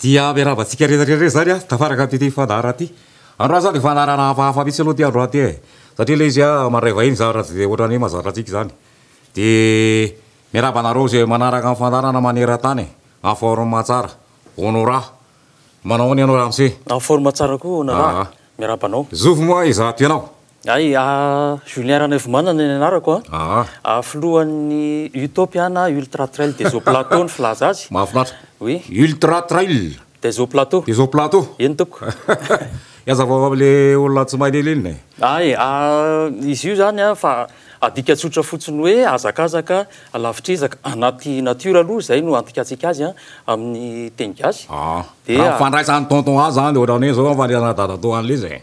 Dia miarahaba antsika rehetra rehetra indray izany an, tafaraka amin'ity fandaharana ity. Androany izany dia fandaharana hafahafa mihitsy aloha ity androany ity e, satria ilay izy an, mandray vahiny izany raha tsy dia ohatran'ny hoe mahazatra antsika izany. Dia miarahaba anareo izay manaraka ny fandaharana maneran-tany en forme tsara, Honorat. Manao ahoana ianao ramose? En forme tsara koa Honorat, miarahaba anao. Zovy moa izato ianao? Hay, Julien Ranaivomanana ny anarako an! Aa! Filohan'ny Utopia na Ultra Trail des Hauts Plateaux ny filaza azy. Mahafinaritra! Oui. Ultra Trail. Des Hauts Plateaux. Des Hauts Plateaux. Eny tompoko. He hazavao amin'ilay olona tsy mahay lilinina e! Hay, izy io izany an, fa adika tsotra fotsiny hoe hazakazaka lavitr'ezaka anaty natiora aloha, izay no andikatsika azy an, amin'ny teny gasy. Aa! Raha ny fandraisan'i Tonton azy izany, ohatran'ny hoe izao ny fandraisan'i Dadatoa an'ilay izy e!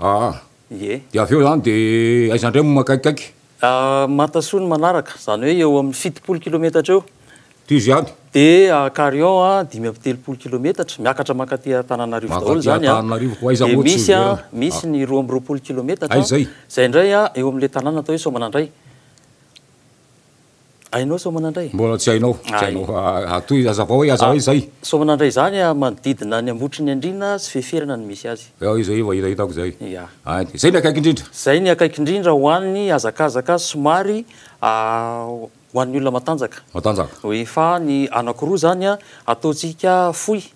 Aa. Ie. Dia avy eo izany dia aiza indray moa makaikikaiky? Aa. Matasoa ny manaraka, izany hoe eo amin'ny fitopolo kilometatra eo. Tohizo ihany. Dia a Carion a, dimy amby telopolo kilometatra, miakatra mankaty Antananarivo daholo Mankaty izany a. Antananarivo, koa aiza Dia moa tsy misy a, hiverina? misy ny roa amby roapolo kilometatra, Aiza izay? izay indray a, eo amin'ilay tanàna atao hoe Soamanandray. Hainao Soamanandray? Mbola tsy hainao, tsy hainao. Atoy, azavao hoe aza hoe zay. Soamanandray izany a, manodidina ny Ambotry ny Andriana sy Feferana no misy azy. Ao izay efa hitahitako izay. Ia. Hainy. Izay ny akaiky indrindra. Izay ny akaiky indrindra ho an'ny hazakazaka somary ho an'ny olona matanjaka. Matanjaka. Oui, fa ny anankiroa izany a, ataontsika fohy,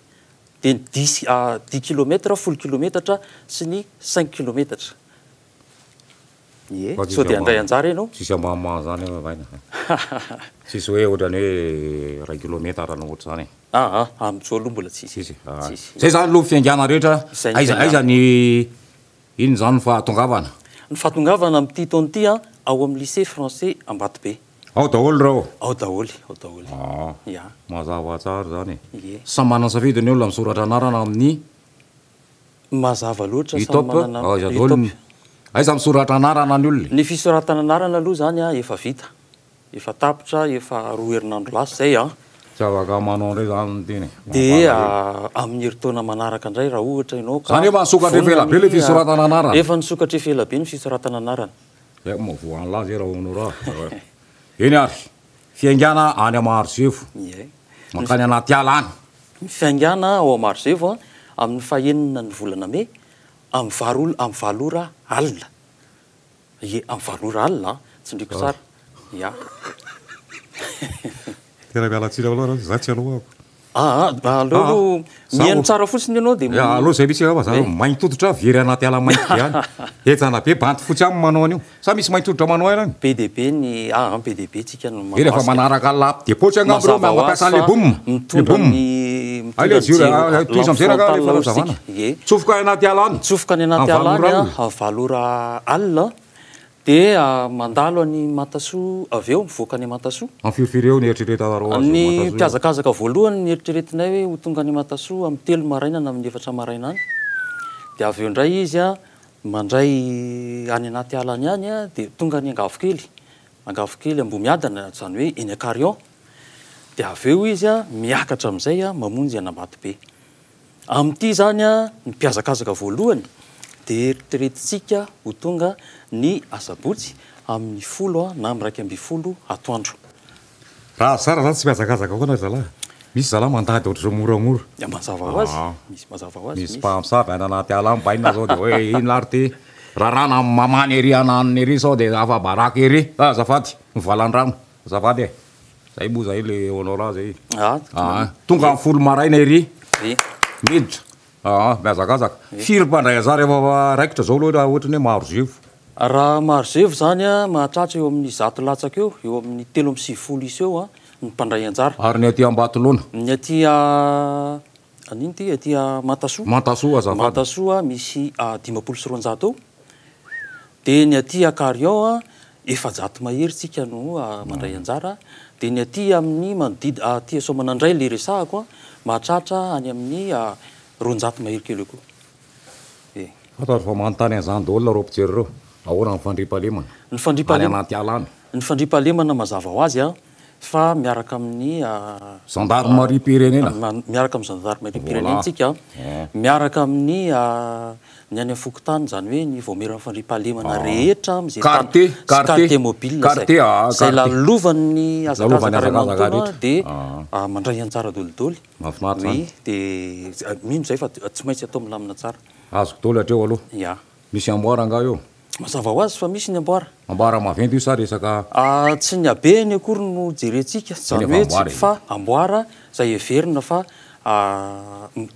dia ny dix, dix kilomètre, folo kilometatra, sy ny cinq kilometatra. Ie, sao dia handray anjara ianao? Tsisy ambahambaha an'izany aloha zany e. Tsisy hoe ohatrany hoe iray kilometatra na ohatr'izany e. Aa, amin'izao aloha mbola tsisy. Tsisy e. Aa. Izay zany aloha ny fiaingàna rehetra, aiza aiza ny inona izany ny fahatongavana? Ny fahatongavana amin'ity taona ity an, ao amin'ny Lycée Français Ambatobe. Ao daholo ireo? Ao daholo, ao daholo. Aa, mazava tsara izany e. Ie. Samy manana ny safidy ny olona misoratra anarana amin'ny. Mazava loatra, samy manana, Utopia. Aiza misoratra anarana ny olona e? Ny fisoratana anarana aloha izany an, efa vita, efa tapitra efa roa herinandro lasa izay an. Tsy afaka manao an'ireo izany ny teny e. Dia amin'ny herintaona manaraka indray raha ohatra ianao ka. Izany efa nisokatra efa ela be ilay fisoratana anarana. Efa nisokatra efa ela be ny fisoratana anarana. Dia aiko mahavoa an'lah ve Raonora a? Eny ary, fiaingàna any Maharisefo, mankany anaty ala any. Ny fiaingàna ao Marozevo amin'ny fahenina ny volana mey, amin'ny valo ora, amin'ny valo ora alina. Ie, amin'ny valo ora alina an! Tsindriako tsara. Ia. Tena miala tsiny aminao ianao, izaho tsy aloako. Aa, aleo aloha mihaino tsara fotsiny ianao dia. Aleo izay mihitsy angamba, izaho maintoditra very anaty ala mainty be any. Henjana be, bandy fotsy ihany no manao an'io. Sa misy maintsy hoditra manao aina any? Be dia be ny ah an, be dia be tsika no mahakasika. Eny efa manaraka laps de poche angamba ireo mba mampiasa le boom, le boom. Hay le jiro a, tohizo am'zay raha rehefa hazavana. Tsofoka any anaty ala any. Tsofoka any anaty ala any an, valo ora alina an, dia mandalo any Matasoa avy eo, mivoaka any Matasoa. Any firifiry eo ny eritreretanareo azy any Matasoa? Ny mpihazakazaka voalohany ny eritreretinay hoe ho tonga any Matasoa amin'ny telo maraina na amin'ny efatra maraina any, dia avy eo indray izy an, Mandray any anaty ala any ihany dia tonga any Angavo kely, Angavo kely Ambohimiadana izany hoe eny Ankarion, dia avy eo izy miakatra amin'izay mamonjy an'Ambatobe. Amin'ity izany ny mpihazakazaka voalohany dia eritreretintsika ho tonga ny asabotsy amin'ny folo na iraika ambin'ny folo atoandro. Raha zara zany tsy mihazakazaka foana ry zalahy. Misy zalahy mandady ohatr'izao moramora. Dia mazava ho azy. Aa. Misy mazava ho azy. Misy mpamosavy any anaty ala any bainina zao dia hoe inona ary ity? Raràna amin'ny mamany ery ananiny ery sao dia afa-baraka ery. Fa azafady, ny valan-drano. Azafady e. Zay moa zay le honorat zay. Aa. Tonga amin'ny folo maraina ery. Dia. Miditra. Aa mihazakazaka. Firy mpandray anzara efa raikitra zao loatra ohatry ny hoe maro zevo. Raha maro zevo zany an, mahatratra eo amin'ny zato latsaka eo, eo amin'ny telo amby sivifolo isa eo an, ny mpandray anjara. Ary ny aty Ambatolaona? Ny aty a, anino ty, aty a Mantasoa. Mantasoa azafady. Mantasoa misy dimampolo sy roanjato eo. Dia ny aty Akarion a, efajato mahery tsika no mandray anjara. Dia ny aty amin'ny manodid- aty Soamanandray ilay resahako a, mahatratra any amin'ny roanjato mahery kely eo koa. Dia. Ato ary vao manontany an'izany daholo nareo mpijery ireo, ahoana ny fandriampahalemana Ny any fandriampahalema- anaty ala any? Ny fandriampahalemana mazava ho azy a. fa miaraka amin'ny. Zandarimariam-pirenena. Miaraka amin'ny zandarimariam-pirenena tsika, miaraka amin'ny ny any fokontany, izany hoe ny vaomieran'ny fandriampahalemana rehetra amin'izay tany, sy quartier mobile izay, izay lalovan'ny hazakazaka iray manontolo dia mandray anjara dolidoly, oui, dia mino izay fa tsy maintsy atao milamina tsara. Azoko daholo hatreo aloha. Misy amboara angaha eo? Mazava ho azy fa misy ny amboara. Amboara maventy io sa resaka. Tsy ny habeny akory no jerentsika, izany hoe tsy mpifa amboara izay heverina fa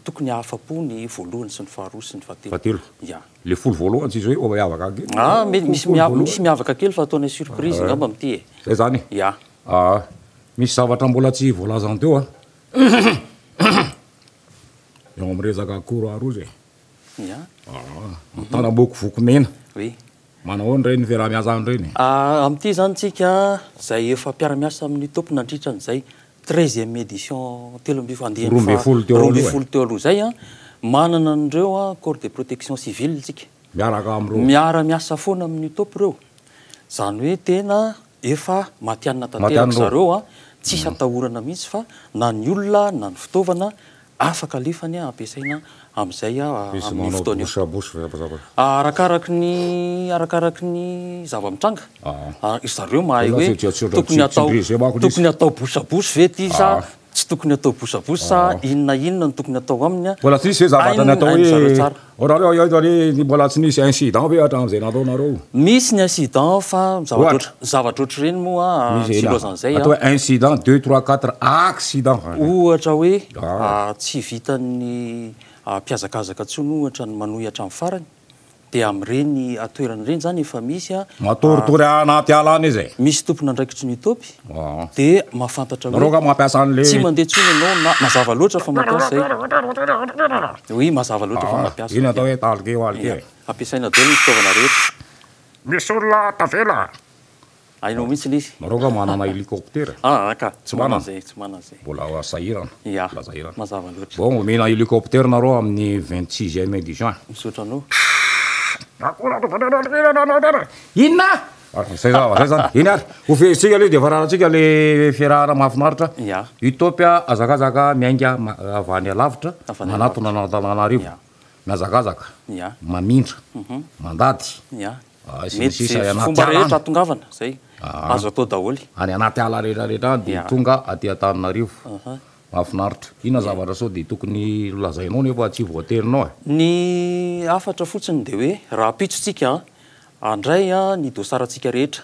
tokony hahafa-po ny voalohany sy ny faharoa sy ny fahatelo. Ya. Le folo voalohany tsisy hoe miavaka kely. Ah, mety misy misy miavaka kely fa ataonay surprise angamba amin'ity e. Zay zany e. Ya. Ah, misy zavatra mbola tsy voalazanao teo an. Eo amin'ny resaka akoro aroso e. Antanamboko vokomena. Oui. Manao ahoana ireny fiaraha-miasa aminy ireny? Amin'ity zany tsika izay efa mpiara-miasa amin'ny top nandritra an'izay treizième édition telo ambin'ny andiany faha roa ambin'ny folo teo aloha, roa ambin'ny folo teo aloha izay an, manana an'ireo corps de protection civile tsika. Miaraka amin'ireo. Miara-miasa foana amin'ny top ireo. Izany hoe tena Efa matianina tanteraka zareo a, tsisy atahorana mihitsy fa na ny olona na ny fitaovana afaka alefany a, ampiasaina amin'izay a, amin'io fotoana io. Arakaraky ny, arakaraky ny zava-mitranga, ry zareo mahay hoe tokony atao, tokony atao bouche à bouche ve ity sa. Tsy tokony atao bosabosa inn na inn no tokony atao aminy Mbola tsy nisy ve zavatra natao hoe ohatrany hoe eto anie mbola tsy nisy incident ve hatramin'izay nataonareo? Misy ny incident fa zavatra zavatra ohatr'ireny moa tsy ilazan'izay an. Atao incident deux trois quatre accident. Ohatra hoe tsy vitan'ny mpihazakazaka intsony ohatra ny manohy hatramin'ny farany. Dia amin'ireny toerana ireny izany efa misy a. Matoritory anaty ala any izy e. Misy tompon'andraikitry ny Itopy dia mahafantatra hoe. Nareo nga mampiasa an'le. Tsy mandeha intsony ianao na mazava loatra fa mampiasa e. Oui, mazava loatra fa mampiasa. Iny atao hoe talike walike e. Ampiasaina daholo ny fitaovana rehetra. Misy olona tavela. Hainao mihitsy ilay izy. Nareo nga manana helicoptera? Aa ka, tsy manana zay, tsy manana zay. Mbola sahirana. Ya, mazava loatra. Bon omena helicoptera nareo amin'ny vingt sixième du juin. Misaotra anao. Akory aloha. Inona? Zay zany, zay zany. Eny ary, ho fehezitsika aloha dia vararantsika le fiarahana mahafinaritra. Ya. Utopia hazakazaka miainga avy any alavitra, manatona an'Antananarivo. Mihazakazaka. Ya. Mamindra. Mandady. Ya. Mety ze fomba rehetra atongavana zay azo atao daholo. Any anaty ala rehetra rehetra any dia tonga aty Antananarivo. Mahafinaritra. Inona zavatra sao dia tokony ho lazainao nefa tsy voaterinao e? Ny hafatra fotsiny dia hoe rahampitso tsika handray ny dosarantsika rehetra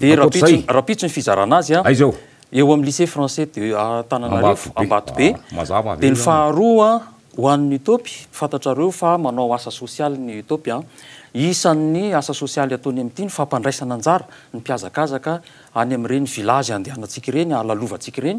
Dia rahampitso ny fizarana azy eo amin'ny Lycée Français de Antananarivo, Ambatobe. Dia ny faharoa ho an'ny UTOP, fantatrareo fa manao asa sosialy ny UTOP. Isan'ny asa sosialy ataony amin'ity ny fampandraisana anjara ny mpihazakazaka any amin'ireny village andehanantsika ireny, alalovantsika ireny.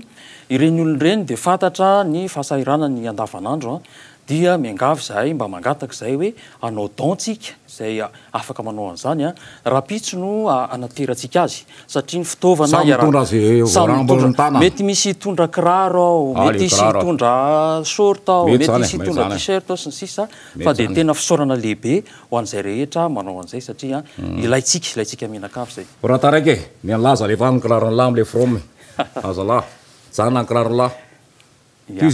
Ireny olona ireny dia fantatra ny fahasahiranany andavanandro Dia miangavy izahay mba mangataka izay hoe hanao don tsika, izay afaka manao an'izany, rahampitso no hanaterantsika azy, satria ny fitaovana Samy mitondra azy ireo, Samy voarambo mitondra, amin-tanana. mety misy hitondra kiraro ao, Ah, mety le hisy kiraro. hitondra short ao, Mety mety zany e, hisy mety hitondra zany e. t-shirt ao sy ny sisa, Mety fa dia zany e. tena fisaorana lehibe ho an'izay rehetra manao an'izay satria ilaintsika, ilaintsika mianakavy izay. Raha taraiky e, mialaza alefaso ny kiraron'lah amin'ilay from e, azalahy, mijanona ny kiraron'lah. Dia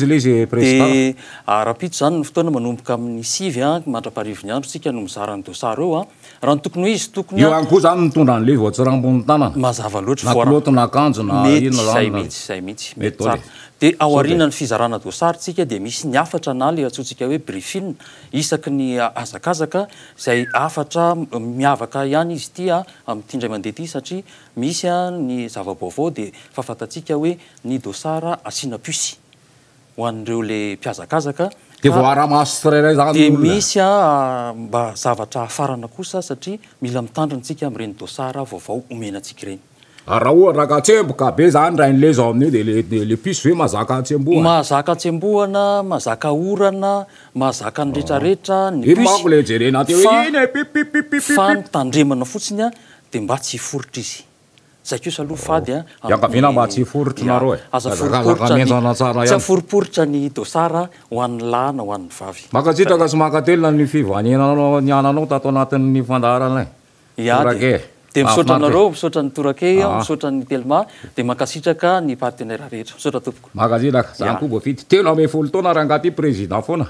rahampitso izany ny fotoana manomboka amin'ny sivy mandra-parivin'ny andro isika no mizara ny dosary eo. Raha ny tokony ho izy, tokony. Eo ihany koa izany ny mitondra an'ilay voatsirambin'ny tanana. Mazava loatra. Na kilaoty na akanjo na inona izany. Mety izay mihitsy, izay mihitsy. Mety tsara. Dia ao aorianan'ny fizarana dosary tsika dia misy ny hafatra na ilay antsointsika hoe briefing isaky ny hazakazaka izay hafatra miavaka ihany izy ity amin'ity indray mandeha ity satria misy ny zava-baovao dia fahafantantsika hoe Ny dosara asiana puce ho an'ireo le mpihazakazaka Dia voaara maso tsirairay izany ny olona. Dia misy a mba zavatra hafarana kosa satria mila mitandrina isika amin'ireny dosara vaovao omena antsika ireny. Ary raha ohatra ka tsemboka be izany indray ny le zao amin'io dia le le puce ve mahazaka atsembohana? Mahazaka atsembohana, mahazaka orana, mahazaka ny retraretra ny puce. Iny manko le jerena aty hoe iny e pip pip pip pip pip. Fa ny tandremana fotsiny a dia mba tsy hiforitra izy. Zay kosa aloha fady an! Iangaviana mba tsy hiforitry nareo e! Aza foriporitra ny dossard ho an'ny lahy na ho an'ny vavy. Mankasitraka sy mankatelina ny fivaniananao niananao tato anatin'ny fandaharana e! Tourake e! Dia misaotra anareo, misaotra an'i Tourake, misaotra an'i Telma, dia mankasitraka ny partenaires rehetra. Misaotra tompoko. Mankasitraka. Zany koa voafidy telo ambin'ny folo taona rangahy ty président foana.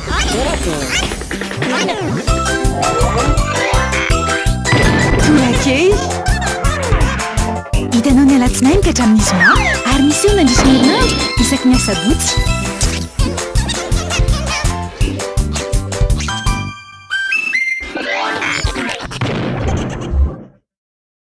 Hitanao ny alatsinainy ka hatramin'ny zoma ary miseho mandritra ny herinandro isaky ny asabotsy.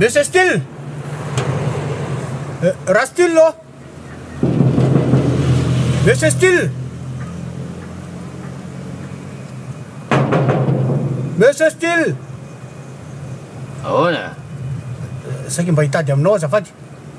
Monsieur Style euh, Rastillo Monsieur Style Monsieur Style Ahoana? Saika mba hitady aminao azafady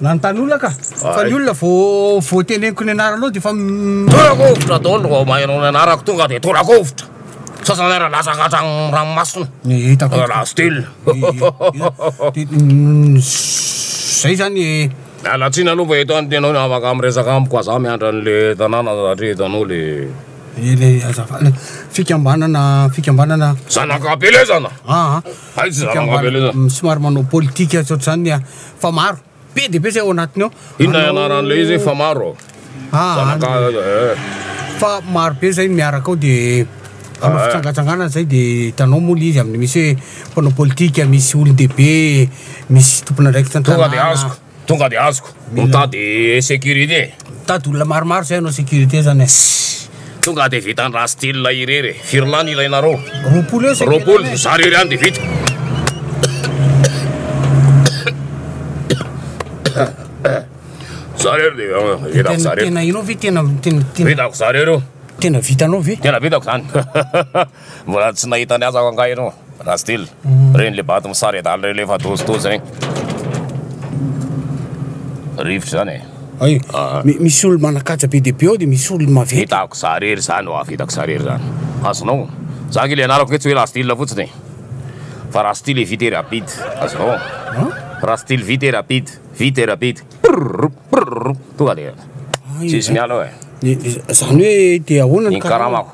Na ny tanora ka! Fa ny olona vao vao teneniko ny anaranao dia efa m. Torakovitra daholo ny vao maheno ny anarako tonga dia torakovitra! Sasany ary latsaka hatrany ranomasina! Ny hitako eto. La style! Zay zany e! Miala tsiny aloha fa eto any tena hoe afaka miresaka amiko fa za miandry an'le tanàna satria hitanao le. Ilay azafady, fikambanana fikambanana. Zanaka am-pilezana! Aa. Haintsika mba somary manao politika tsy ohatr'izany a! Fa maro, be dia be izay ao anatiny ao. Inona ianaran'ilay izy hoe fa maro? Fa maro be izay no miaraka ao dia hanao fitsangatsanganana izay dia hitanao moa ilay izy amin'ny misy hoe mpanao politika, misy olon-dehibe, misy tompon'andraikitra an-tanàna. Tonga de azoko. Mitady sécurité. Mitady olona maromaro zay hanao sécurité zany e. Tonga de vita ndra style irery e. Firy lahy no ilainareo? Roapolo eo sécurité. Roapolo, za irery any de vita. Za irery de vitako za irery. Tena enao ve tena tena vitako za irery io? Tena vitanao ve? Tena vitako zany. Mbola tsy nahita ny azako angaha ianao raha style reny le bato misary adala reny le efa dozidozy zany rivotra zany e Ay, Ah. mi- misy olo manakaja be dia be ao dia misy olo maventy hitako za rery zany oa hitako za rery zany azonao za nge le anarako nge tsy hoe raha style fotsiny e. fa raha style vite et rapide azonao raha style vite et rapide vite et rapide Prrrr, prrrr, tonga de Ay, tsisy miala ao e Ny- ny- zany hoe dia ahoana ny ny karamako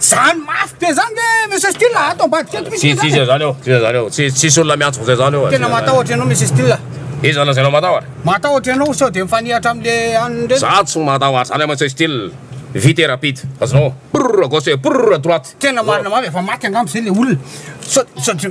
Zany mafy be zany ve Monsieur Style a? Ato ambadika ato misy Tsy tsy izay zany eo, tsy izay zany eo, tsy tsisy olona miantso izay zany eo. Tena matahotra ianao Monsieur Style a. Iza no lazainao matahotra? Matahotra ianao sao dia mifanehatra amin'le an'ny reny. Za tsy matahotra zany Monsieur Style, vite et rapide, azonao, prrr à gauche et prrr à droite. Tena marina mafy, efa maty angamba zay le olona. Sao, sao dia.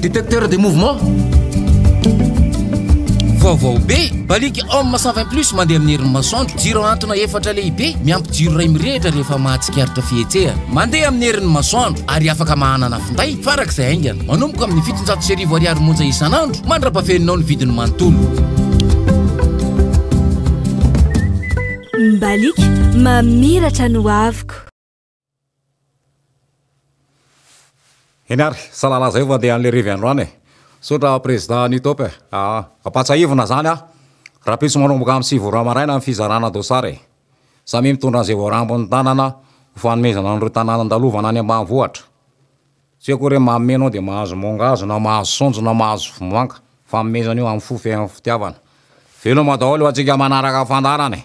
Detecteur de mouvement vaovao be baliky homme savin plus mandeha amin'ny herin'ny masoandro jiro antona efatra lehibe miampy jiro iray mirehitra rehefa mahatsikaritra fihetsehana mandeha amin'ny herin'ny masoandro ary afaka mahanana finday farak'izay haingana manomboka amin'ny fitonjato sy arivo ariary monja isan'andro mandra-pafeninao ny vidiny manontolo mbaliky mamiratra no avoko Eny ary, salala zay vao andeha an'ilay revy andro any e. Misaotra prezida ny top e. Aa, ampatsahivina zany aho. Rahampitso manomboka amin'ny sivy ora maraina ny fizarana dossard e. Samia mitondra an'izay voarambin'ny tanana ho fanomezana an'ireo tanàna andalovana any ambanivohitra. Tsy hoe akory hoe manome ianao dia mahazo mangahazo na mahazo saonjo na mahazo vomanga. Fanomezana io amin'ny fo feno fitiavana. Veloma daholo ho antsika manaraka fandaharana e.